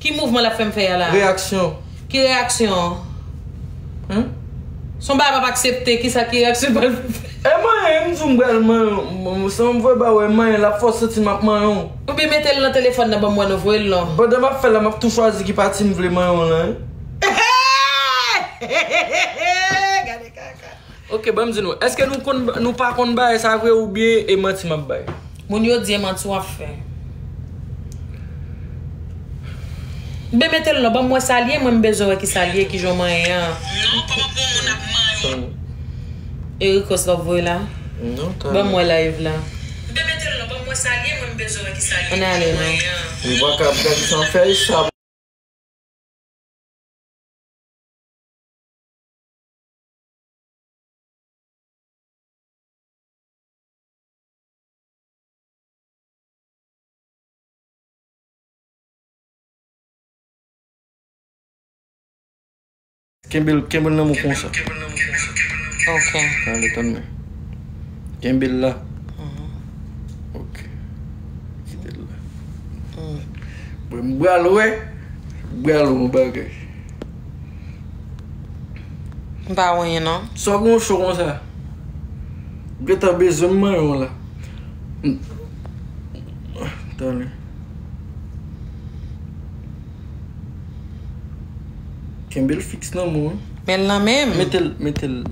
Ki mouvman lap fèm fè ya la. Reyaksyon. Ki reyaksyon. Hum. Son bagay pap aksepte kisa ki reyaksyon pral fè. E manyen m di w m pral manyen w san vwe ba wè manyen lap fè w santi map manyen w. Ou byen metel nan telefòn nan banm wè non voyel non. Pandan map fèl la map tou chwazi ki pati m vle manyen w lan wi. Gade kaka. Ok banm di nou eske nou konn nou pa konn bagay sa vre ou byen e manti map bay. Moun yo di e manti wap fè. Bby metel non banm wè sal ye mwen m bezwen wè ki sal ye ki jan w manyen an. Non koman pou yon moun ap manyen w. E rikos la w voye la. Non tan. Banm wè live la. Bby metel non banm wè sal ye mwen m bezwen wè ki sal ye ki jan w manyen an. Anale non. Ou paka ap gade san fèy sa. Kenbe l kenbe l nan mwen konsa. Ok. Ale tann mwen. Kenbe l la. Ok. Kite l la. Mwen bal wè. Bal wè yon bagay. M pa wè yen non. Sa w gen w cho konsa? M gentan bezwen m manyen w la. Tande. Kenbe l fiks nan men w. Men l nan men m? Mete l, mete l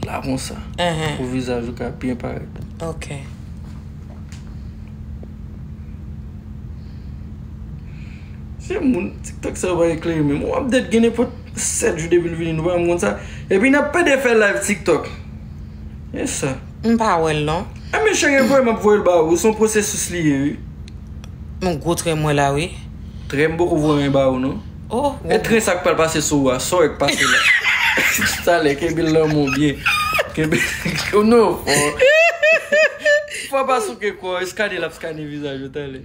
la konsa. Enhen. Pou vizaj ou ka byen parèt. Ok. Se moun tiktok sa yo pa eklere menm. Yon update gen nenpòt 7 jou depil vini nou pa janm konn sa. Epi nap pede fè live tiktok. E sa. M pa wèl non. E men chere voye map voyel ba ou. Son pwosesis li ye wi. Yon gwo tren m wè la wi. Tren m poko voye anyen ba ou non. Oh. E tren sa k pral pase sou ou a. Sa w wè k pase la. Talè kenbe lanmou w byen. Kenbe lanmou w. Fò pa souke kò. Eskane lap eskane vizaj ou talè.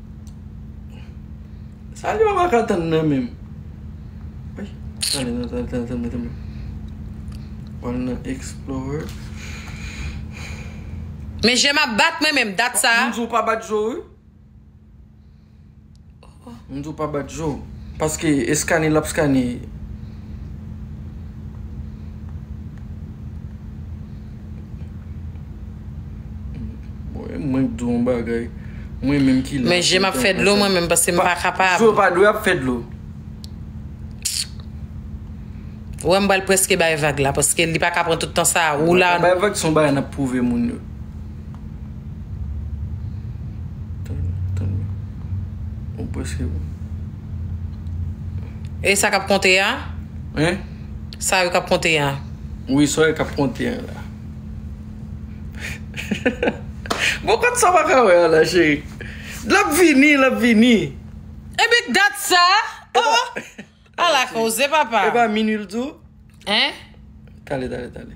Sa li pa pa ka tann nan menm. Tann tann tann tann tann. Ou al nan explorer. Men jem ap bat mwen menm dat sa. Mwen di ou pa bat je ou. Mwen di ou pa bat je ou. Paske eskane lap eskane. Mwen k di w yon bagay, mwen menm ki la. Men je m ap fè dlo mwen menm paske m pa kapab. Zo pa dwe ap fè dlo. Ou wè m pral preske bay vag la paske li pa ka pran tout tan sa a. Ou la. Mwen bay vag se yon bagay n ap pwouve moun yo. Ou preske. E sa k ap konte a? Hein? Sa yo kap konte a. Wi sa yo kap konte a la. Bon kot sa pa ka wè a la cheri. Lap vini lap vini. Epi k dat sa oh. Ala koze papa. Epa minuit l di w. Hein. Tale tale tale.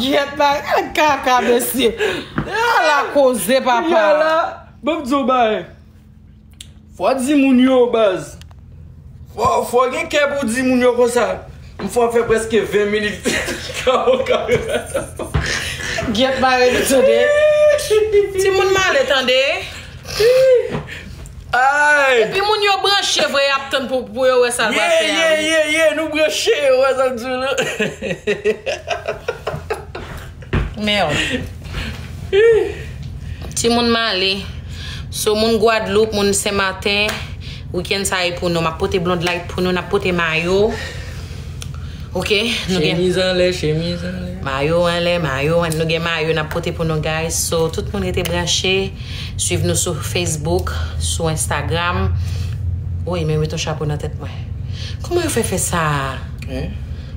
Gyèt la gade kaka mesye. Ala koze papa. Kounye a la, banm di yon bagay. Fò w di moun yo baz. Fò w gen kè pou w di moun yo konsa. M fò fè preske 20 minit. Gyèt bare li tande. Timoun male tande. Ayy. Epi moun yo branche vre yap tann pou yo wè sa l pral fè a wi. Yeyeyeye nou branche ou wè sa m di w la. Merde. Timoun m ale. So moun Guadeloupe, moun Sen Maten, weekend sa e pou nou. Map pote blonde light pou nou, nap pote mayo. Ok nou gen. Chemiz anlè, chemiz anlè. Mayo anlè, mayo anlè. Nou gen mayo nap pote pou nou guys. So tout moun rete branche. Swiv nou sou Facebook, sou Instagram. Woy men met yon chapo nan tèt mwen. Kouman yo fè fè sa a? Hein?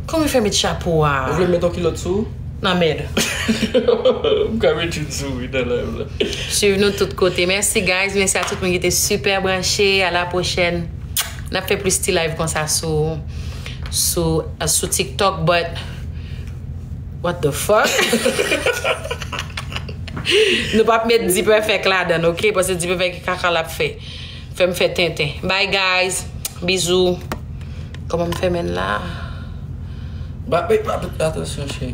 Kouman yo fè met chapo a? Ou vle m met yon kilòt sou ou? Nan mèd. M ka met youn sou wi nan live la. Swiv nou tout kote. Mèsi guys, mèsi a tout moun ki te super branche. A la pwochèn. N ap fè plis ti live konsa sou sou sou TikTok but what the fuck? Nou pap met dperfect ladann ok paske dperfect e kaka lap fè fèm fè tenten bye guys bizou komanm fèmen la. Ba ep atensyon cheri.